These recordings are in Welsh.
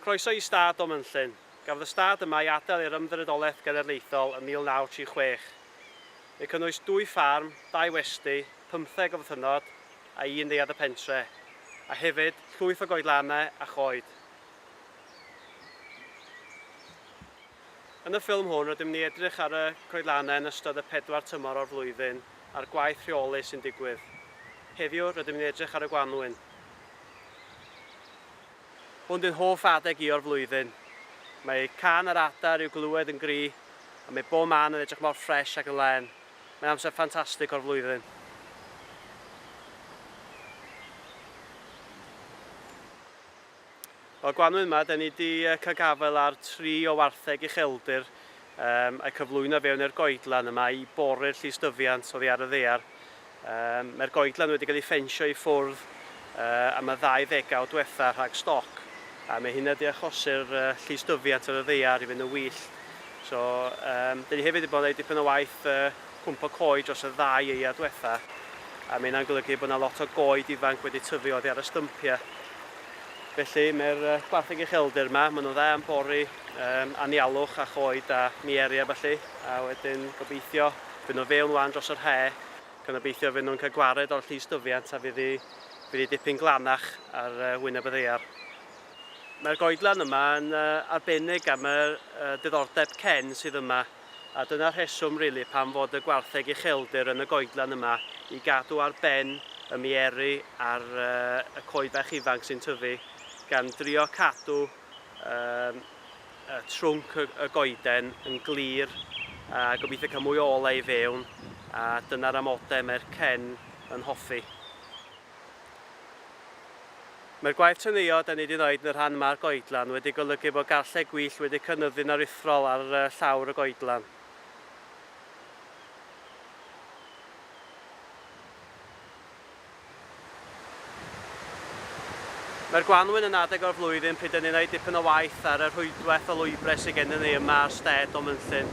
Croeso i Stad Donmynllyn. Gafodd y stad yma ei adael i'r Ymddiriedolaeth Genedlaethol ym 1936. Mae'n cynnwys dwy ffarm, dau westy, pymtheg o fythynnod a un neuadd y pentre, a hefyd llwyth o goedlanau a choed. Yn y ffilm hwn rydym ni edrych ar y coedlanau yn ystod y pedwar tymor o'r flwyddyn a'r gwaith rheoli sy'n digwydd. Heddiw rydym ni'n edrych ar y gwanwyn. Hwn di'n hoff adeg i o'r flwyddyn. Mae cân yr adar i'w glywed yn gry a mae bob man yn edrych mor ffresh ac yn len. Mae'n amser ffantastig o'r flwyddyn. O'r gwanwyn yma, da ni di cael gafael ar tri o wartheg ucheldir um, a'i cyflwyno fewn i'r goedlan yma i bori'r llystyfiant oddi ar y ddear. Mae'r goedlan wedi cael ei ffensio i ffwrdd am y ddau ddegawd diwetha' rhag stoc, a mae hynna 'di achosi'r llystyfiant ar y ddaear i fynd yn wyllt. So, dan ni hefyd 'di bod yn gwneud dipyn o waith cwmpo coed dros y ddau aeaf diwetha', a mae hynna'n golygu bod 'na lot o goed ifanc wedi tyfu oddi ar y stympia'. Felly, mae'r gwartheg ucheldir 'ma, maen nhw'n dda am bori anialwch a choed a mieri a ballu, a wedyn gobeithio Fy' nhw fewn 'wan dros yr he', gan obeithio fy' nhw'n cael gwared o'r llys dyfiant a fydd hi fydd hi dipyn glanach ar wyneb y ddaear. Mae'r goedlan yma yn arbennig am y diddordeb cen sydd yma, a dyna'r rheswm rili pam fod y gwartheg ucheldir yn y goedlan yma i gadw ar ben y mieri ar y coed bach ifanc sy'n tyfu, gan drio cadw trwnc y goeden yn glir a gobeithio cael mwy o olau i fewn a dyna'r amodau mae'r cen yn hoffi. Mae'r gwaith teneuo da ni wedi wneud yn y rhan yma'r goedlan wedi golygu bod garlleg gwyllt wedi cynyddu'n aruthrol ar llawr y goedlan. Mae'r gwanwyn yn adeg o'r flwyddyn pryd y ninnau dipyn o waith ar y rhwydwaith o lwybrau sydd gennym ni yma ar stêd o Mynllyn.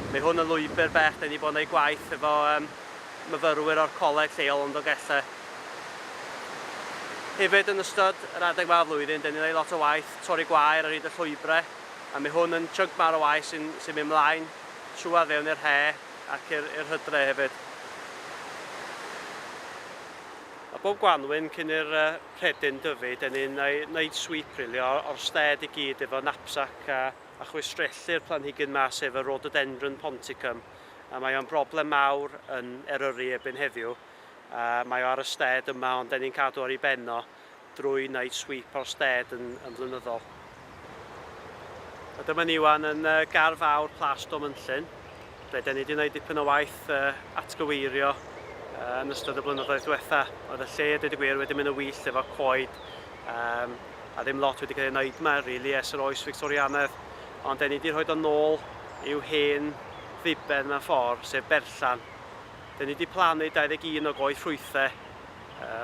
Mae hwn yn lwybr bell, dan ni wedi bod yn ei gwaith efo yym myfyrwyr o'r coleg lleol yn Ndogellau. Hefyd yn ystod yr adeg yma o flwyddyn, dan ni'n ei lot o waith torri gwair ar hyd y llwybrau, a mae hwn yn chunk mawr o waith sy'n sy'n mynd mlaen trwad fewn i'r he, Ac i'r i'r hydre hefyd. A bob gwanwyn cyn i'r uh, rhedyn dyfu, dyn ni'n wneud sweep really, o'r, or sted i gyd efo knapsack a, a chwistrellu'r planhigyn ma sef y rhododendron ponticum. A mae o'n broblem mawr yn Eryri ebyn heddiw. A mae o ar y sted yma ond dyn ni'n cadw ar ei ben o. drwy wneud sweep o'r stêd yn, yn flynyddol. A dyma ni wan yn uh, gar fawr Plas Domynllyn, ble da ni wedi gwneud dipyn o waith uh, atgyweirio uh, yn ystod y blynyddoedd diwetha. Oedd y lle, dweud y gwir, wedi mynd yn wyllt efo coed, um, a ddim lot wedi cael ei wneud yma, rili, really, ers yr oes Victorianedd. Ond da ni wedi rhoi o'n nôl i'w hen ddiben mewn ffordd, sef berllan. Da ni wedi plannu 21 o goed ffrwythau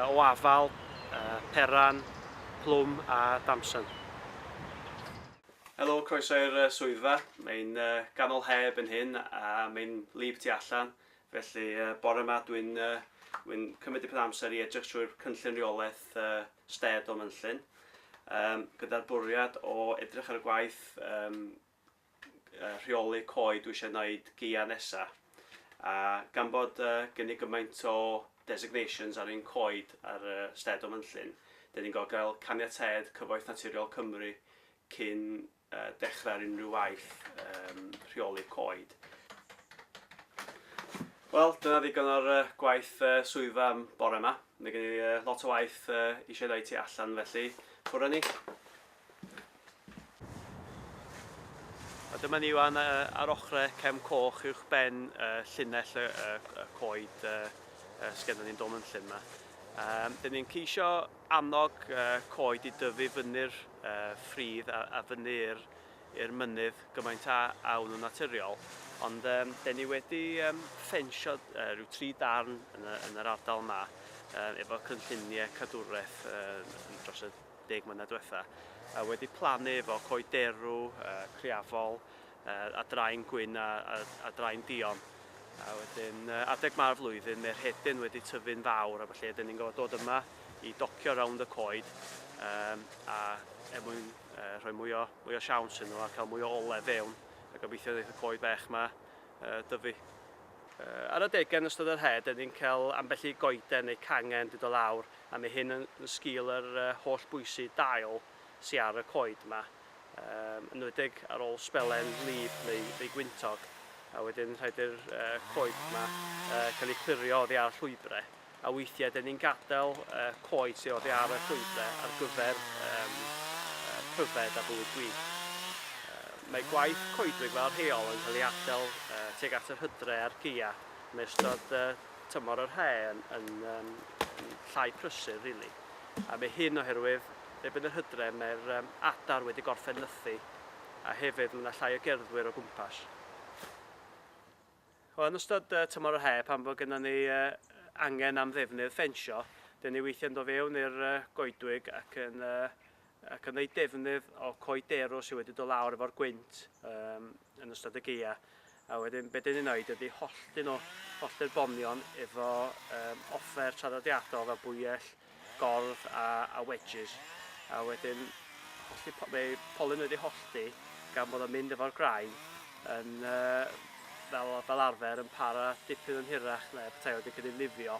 o afal, peran, plwm a damsen. Helo, croeso i'r swyddfa. Mae'n ganol heb yn hyn a mae'n wlyb tu allan, felly bore yma dwi'n dwi'n cymryd dipyn o amser i edrych trwy'r cynllun reolaeth sted o Mynllyn, gyda'r bwriad o edrych ar y gwaith rheoli coed dwi eisiau wneud geia nesa a gan bod uh, gen i gymaint o designations ar ein coed ar uh, sted o Fynllyn, dyn ni'n gael gael caniatâd Cyfoeth Naturiol Cymru cyn uh, dechrau ar unrhyw waith um, rheoli coed. Wel, dyna ddigon o'r uh, gwaith uh, swyddfa am bore yma. Mae gen i uh, lot o waith uh, eisiau dweud ti allan felly, bwrw ni. A dyma ni wan ar ochre cefn coch uwch ben llinell y coed sgenna ni'n dom yn llun yma. Um, Dyn ni'n ceisio annog coed i dyfu fyny'r ffridd a, a fyny'r i'r mynydd gymaint a awn yn naturiol. Ond um, dyn ni wedi um, ffensio uh, rhyw tri darn yn, y, yn yr ardal yma uh, efo cynlluniau cadwraeth uh, dros y deg mlynedd diwetha, a wedi plannu efo coed derw, criafol, a drain gwyn a drain duon. A wedyn adeg ma'r flwyddyn mae rhedyn wedi tyfu'n fawr a felly ydyn ni'n gorfod dod yma i docio rownd y coed a er mwyn rhoi mwy o, mwy o siawns iddyn nhw a cael mwy o ole fewn a gobeithio wneith y coed fech yma dyfu. Ar adegau yn ystod yr haf dŷn ni'n cael ambell i goeden neu cangen di do lawr a mae hyn yn sgil yr holl bwysi dail sy ar y coed yma, yn enwedig ar ôl sbelen wlyb neu neu gwyntog a wedyn rhaid i'r coed yma cael eu clirio oddi ar llwybrau. A weithiau dyn ni'n gadael y coed sydd oddi ar y llwybrau ar gyfer um, pryfed a bywyd gwych. Mae gwaith coedwig fel rheol yn cael ei adael uh, tuag at yr hydre a'r geia. Mae ystod uh, tymor yr hae yn, yn, um, yn llai prysur, rili. Really. A mae hyn oherwydd, erbyn yr hydre, mae'r um, adar wedi gorffen nythu, a hefyd mae yna llai o gerddwyr o gwmpas. Yn ystod tymor yr haf pan fo gynnon ni angen am ddefnydd ffensio, dyn ni weithiau'n do fewn i'r goedwig ac yn ac yn neud defnydd o coed derw sydd wedi do lawr efo'r gwynt um, yn ystod y geia. A wedyn be dyn ni'n neud ydy hollti nhw, hollti'r bonion efo um, offer traddodiadol fel bwyell, gordd a, a wedges, a wedyn hollti, mae polyn wedi hollti gan bod o'n mynd efo'r graen yn, uh, fel, fel arfer yn para dipyn yn hirach na petai wedi cael ei lifio.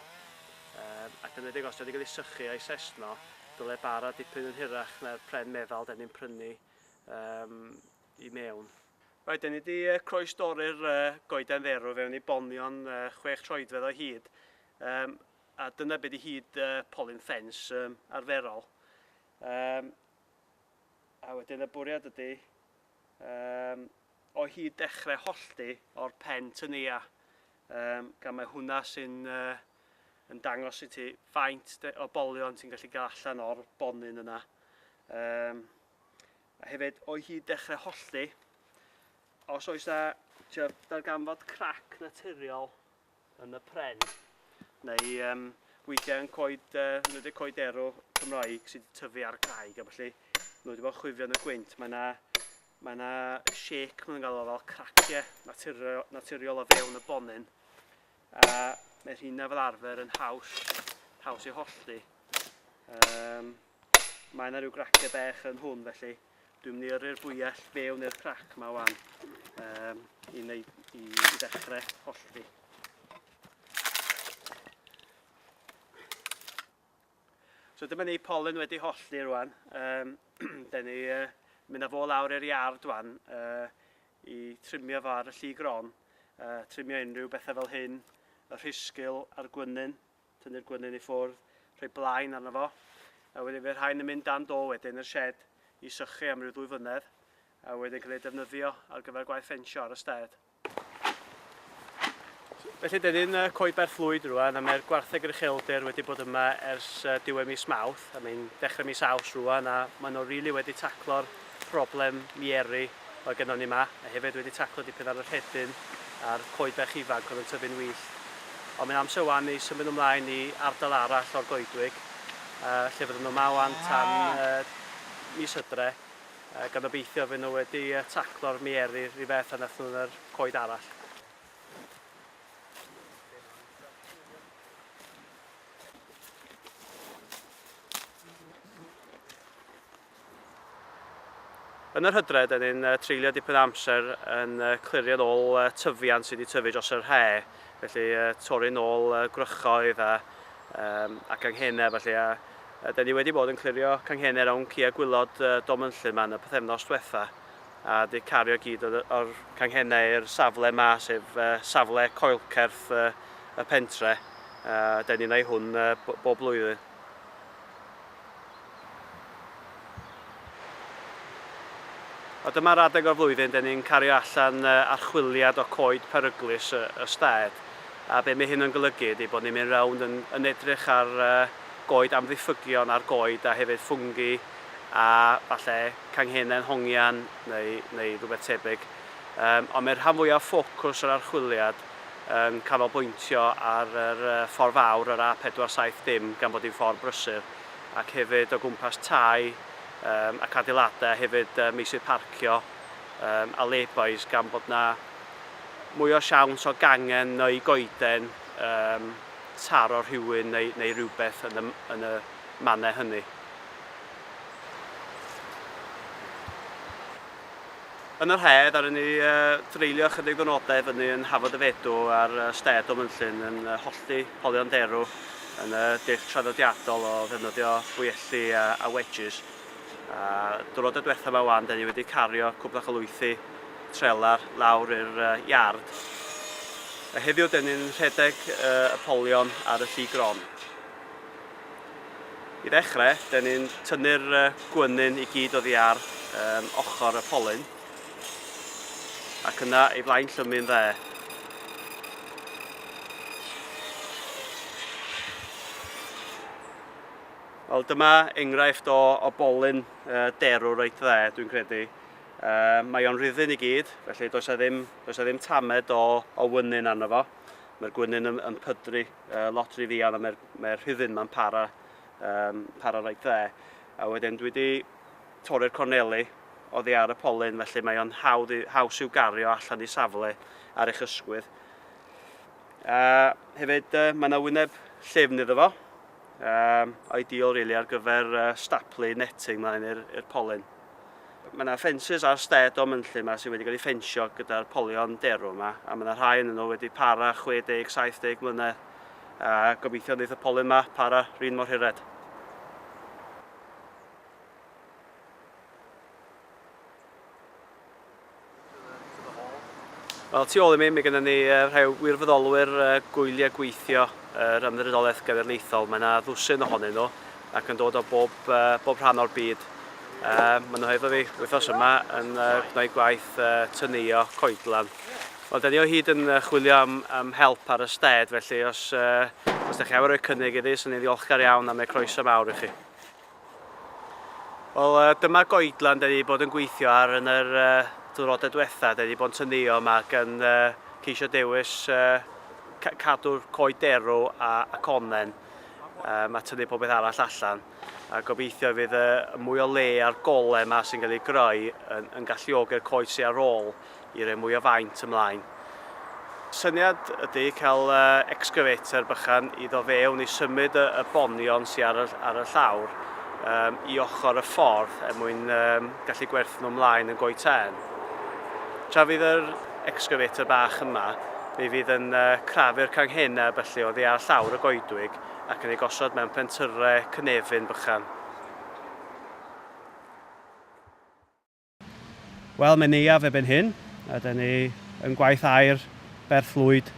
Um, ac yn edrych os wedi cael ei sychu a'i sesno, dyle bara dipyn yn hirach na'r pren meddal da ni'n prynu um, i mewn. Right, da ni wedi uh, croes dorri'r uh, goeden dderw fewn i bonion uh, chwech troedfedd o hyd. Um, a dyna be di hyd uh, polyn ffens um, arferol. Um, a wedyn y bwriad ydy um, o hyd dechrau hollti o'r pen tynia. Um, gan mae hwnna sy'n uh, yn dangos i ti faint o bolion ti'n gallu gael allan o'r bonyn yna. Um, a hefyd, o'i hyd dechrau hollti, os oes na darganfod crac naturiol yn y pren, neu um, weithiau yn coed, uh, nhw wedi coed ero Cymraeg sydd wedi tyfu ar graig, a felly nhw wedi bod chwifio yn y gwynt. Mae yna Mae yna shake, mae'n gael o fel craciau naturiol, naturiol o fewn y bonyn. A mae rhywun fel arfer yn haws, haws i hollti. Um, Mae yna rhyw grace bech yn hwn felly dwi'n mynd i yrru'r bwyell fewn i'r crac yma wan um, i, wneud, i, i ddechrau hollti. So dyma ni pollen wedi hollti rwan. Um, da ni uh, mynd â fo lawr i'r iard wan uh, i trimio fo ar y lli gron. Uh, trimio unrhyw bethau fel hyn, y rhisgil a'r gwynyn, Tynnu'r gwenyn i ffwrdd, rhoi blaen arno fo, a wedyn fe rhain yn mynd dan do wedyn i'r sied i sychu am ryw ddwy flynedd, a wedyn cael eu defnyddio ar gyfer gwaith ffensio ar y stêd. Felly, dyn ni'n coeber fflwyd rwan, a mae'r gwartheg yr ucheldir wedi bod yma ers diwedd mis Mawrth, a mae'n dechrau mis Aws rwan, a maen nhw rili wedi taclo'r problem miery oedd gynnon ni 'ma, a hefyd wedi taclo dipyn ar y rhedyn a'r coed bach ifanc oedd yn tyfu'n wyllt. Ond mae'n amser 'wan i symud ymlaen i ardal arall o'r goedwig, yy lle fydden nhw 'ma 'wan tan yy mis Hydre, yy gan obeithio fy' nhw wedi yy taclo'r miery 'r un fath a nath nhw yn yr coed arall. Yn yr hydref, dan ni'n treulio dipyn o amser yn clirio'n ôl tyfiant sydd wedi tyfu dros yr he', felly torri'n ôl gwrychoedd a a ganghenau felly, a dan ni wedi bod yn clirio canghennau rownd cia gwylod Dom Ynllŷn yma yn y pythefnos diwetha', a wedi cario gyd o'r o'r canghennau i'r safle yma, sef safle coelcerth y pentre', a dan ni'n ei hwn bob blwyddyn. A dyma'r adeg o'r flwyddyn dŷn ni'n cario allan archwiliad o coed peryglus y stad, a be mae hyn yn golygu ydy bod ni'n mynd rownd yn yn edrych ar goed amddiffygion a'r goed a hefyd ffwngi a falle canghennau'n hongian neu neu rhywbeth tebyg. Yym ond mae'r rhan fwyaf o ffocws yr archwiliad yn canolbwyntio ar yr ffordd fawr, yr A470, gan bod hi'n ffordd brysur, ac hefyd o gwmpas tai ac adeiladau, a hefyd meysydd parcio a lay-bys, gan bod yna mwy o siawns o gangen neu goeden taro rhywun neu rywbeth yn y mannau hynny. Yn yr haf, ddaru ni dreulio ychydig ddwrnodau i fyny yn Hafod y Fedw ar stêd o Fynllyn yn hollti polion derw yn y dull traddodiadol o ddefnyddio bwyelli a, a wedges. A dwrnod y diwethaf yma wan, da ni wedi cario cwbl o chylwythi trelar lawr i'r iard. A heddiw, da ni'n rhedeg y polion ar y lli gron. I ddechrau, dyn ni'n tynnu'r gwenyn i gyd oddi ar um, ochr y polyn ac yna ei flaen llymu'n dde. Wel, dyma enghraifft o, o bolyn uh, derw reit dde, dwi'n credu. Uh, mae o'n rhyddyn i gyd, felly does a ddim, does a ddim tamed o, o wynyn arno fo. Mae'r gwynyn yn, yn pydru. uh, lot rhy ddian a mae'r mae rhyddyn ma'n para, um, para rhaid dde. A wedyn dwi wedi torri'r corneli oddi ar y polyn, felly mae o'n hawdd i, haws i'w gario allan i safle ar eich ysgwydd. A hefyd, uh, mae yna wyneb llyfn iddo fo, um, ideal really ar gyfer uh, staplu netting mlaen i'r polyn. Mae yna ffensys ar stêd o mynllyn yma sydd wedi cael ei ffensio gyda'r polion derw yma, a mae yna rhai yn nhw wedi para 60, 70 mlynedd, a gobeithio wneud y polyn yma para rhin mor hired. Wel, tu ôl i mi, mae gennym ni rhai wirfoddolwyr gwyliau gweithio yr Ymddiriedolaeth Genedlaethol. Mae yna ddwsin ohonyn nhw ac yn dod o bob, bob rhan o'r byd. Maen nhw hefo fi wythnos yma yn gwneud gwaith tynuio coedlan. Wel, da ni o hyd yn chwilio am, am help ar y sted, felly os, os da chi am roi cynnig iddi, sy'n ni'n ddiolchgar iawn am ei croeso mawr i chi. Wel, uh, dyma goedlan da ni wedi bod yn gweithio ar yn yr uh, diwrnodau diwetha. Da ni wedi bod yn tynnuo yma ac yn uh, ceisio dewis uh, cadw'r coed derw a, a connen um, a tynnu pob beth arall allan. A gobeithio fydd y, y mwy o le a'r gole yma sy'n cael ei greu yn, yn galluogi'r coed sy'n ar ôl i roi mwy o faint ymlaen. Syniad ydy cael excavator bychan i ddo fewn i symud y, y bonion sy'n ar y, ar y llawr um, i ochr y ffordd er mwyn um, gallu gwerthu nhw ymlaen yn goi tân. Tra fydd yr excavator bach yma, mi fydd yn uh, crafu'r canghenau felly oddi ar llawr y goedwig ac yn ei gosod mewn pentyrre cynefin bychan. Wel, mae'n neuaf erbyn hyn, a da ni yn gwaith aer Berth Lwyd,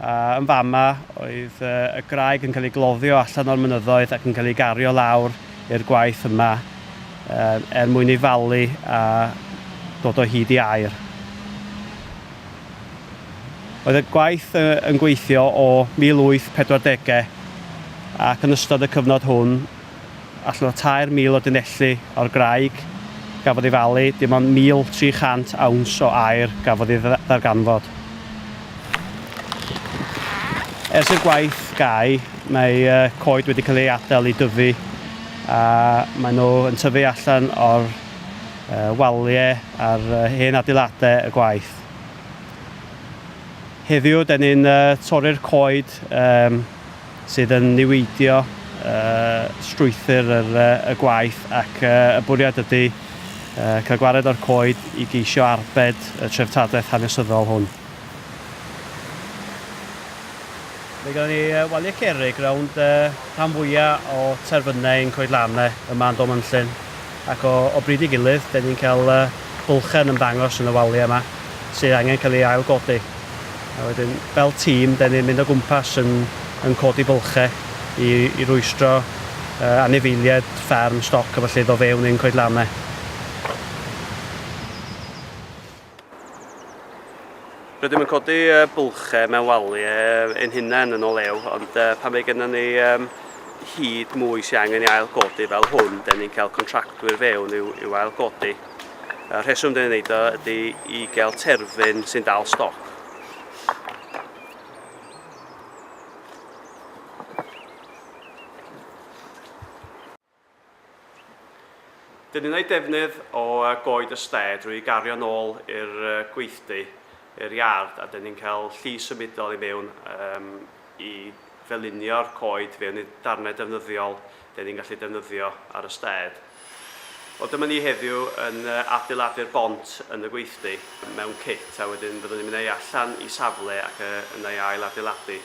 a yn fama oedd y graig yn cael ei gloddio allan o'r mynyddoedd ac yn cael ei gario lawr i'r gwaith yma er mwyn ei falu a dod o hyd i aer. Oedd y gwaith yn gweithio o 1840 ac yn ystod y cyfnod hwn allan o 3,000 o dunelli o'r graig gafodd ei falu, dim ond 1,300 awns o aer gafodd ei ddarganfod. Ers i'r gwaith gau, mae coed wedi cael ei adael i dyfu a maen nhw yn tyfu allan o'r waliau a'r hen adeiladau y gwaith. Heddiw, da ni'n torri'r coed sydd yn niweidio strwythur y gwaith ac y bwriad ydy cael gwared o'r coed i geisio arbed y treftadaeth hanesyddol hwn. Mae gen ni waliau cerrig rownd rhan fwya' o terfynau ein coedlannau yma yn Dom Ynllyn. ac o o bryd i gilydd dan ni'n cael yy bylchau yn ymddangos yn y waliau yma sydd angen cael ei ailgodi a wedyn fel tîm dan ni'n mynd o gwmpas yn yn codi bylchau i i rwystro yy anifeiliaid fferm stoc a felly iddo fewn ein coedlanau. Rydym yn codi bylchau mewn wali ein hunain yn o lew, ond pan mae gennym ni hyd mwy sy'n angen ei ailgodi fel hwn, dyn ni'n cael contractwyr fewn i'w, i'w ailgodi. Y rheswm dyn ni'n neud o ydy i gael terfyn sy'n dal stoc. Dyn ni'n ei defnydd o goed y ste drwy gario nôl i'r gweithdy, i'r iard, a dyn ni'n cael lli symudol i mewn um, i felinio'r coed fewn i darnau defnyddiol dyn ni'n gallu defnyddio ar y stêd. Wel, dyma ni heddiw yn adeiladu'r bont yn y gweithdy mewn cit a wedyn byddwn ni'n mynd ei allan i safle ac yna ei ail adeiladu.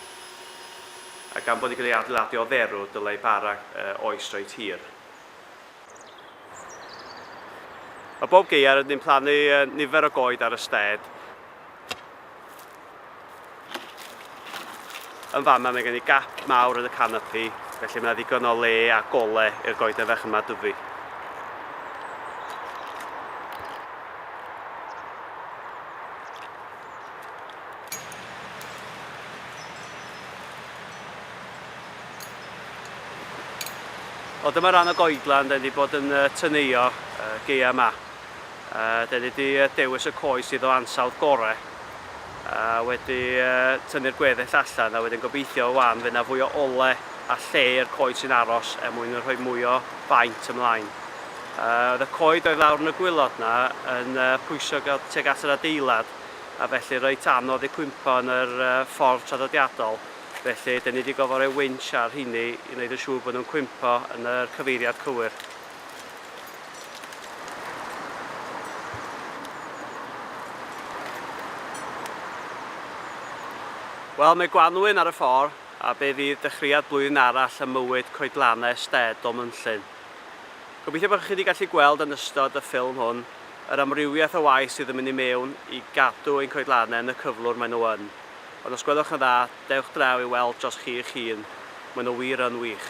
A gan bod yn cael ei adeiladu o dderw, dylai bara oes reit hir. Mae bob gaeau rydyn ni'n plannu nifer o goed ar y stêd. Yn fama mae gen i gap mawr yn y canopi, felly mae yna ddigon o le a gole i'r goeden fach yma dyfu. O dyma ran o goedlan, da ni wedi bod yn tyneio geia yma. Da ni wedi dewis y coes sydd o ansawdd gore, a wedi tynnu'r gweddill allan, a wedyn gobeithio o wan fe na fwy o ole a lle i'r coed sy'n aros er mwyn yn rhoi mwy o faint ymlaen. Oedd y coed oedd lawr yn y gwylod na yn pwysio teg at yr adeilad, a felly reit anodd eu cwympo yn yr ffordd traddodiadol, felly dan ni wedi gorfod rhoi winch ar rheiny i wneud yn siŵr bod nhw'n cwympo yn y cyfeiriad cywir. Wel, mae Gwanwyn ar y ffordd, a be fydd dechreuad blwyddyn arall ym mywyd coedlannau Stead Dolmynllyn? Gobeithio bod chi wedi gallu gweld yn ystod y ffilm hwn Yr amrywiaeth o waith sydd yn mynd i mewn i gadw ein coedlannau yn y cyflwr maen nhw yn. Ond os gwelwch yn dda, dewch draw i weld dros chi eich hun, maen nhw wir yn wych.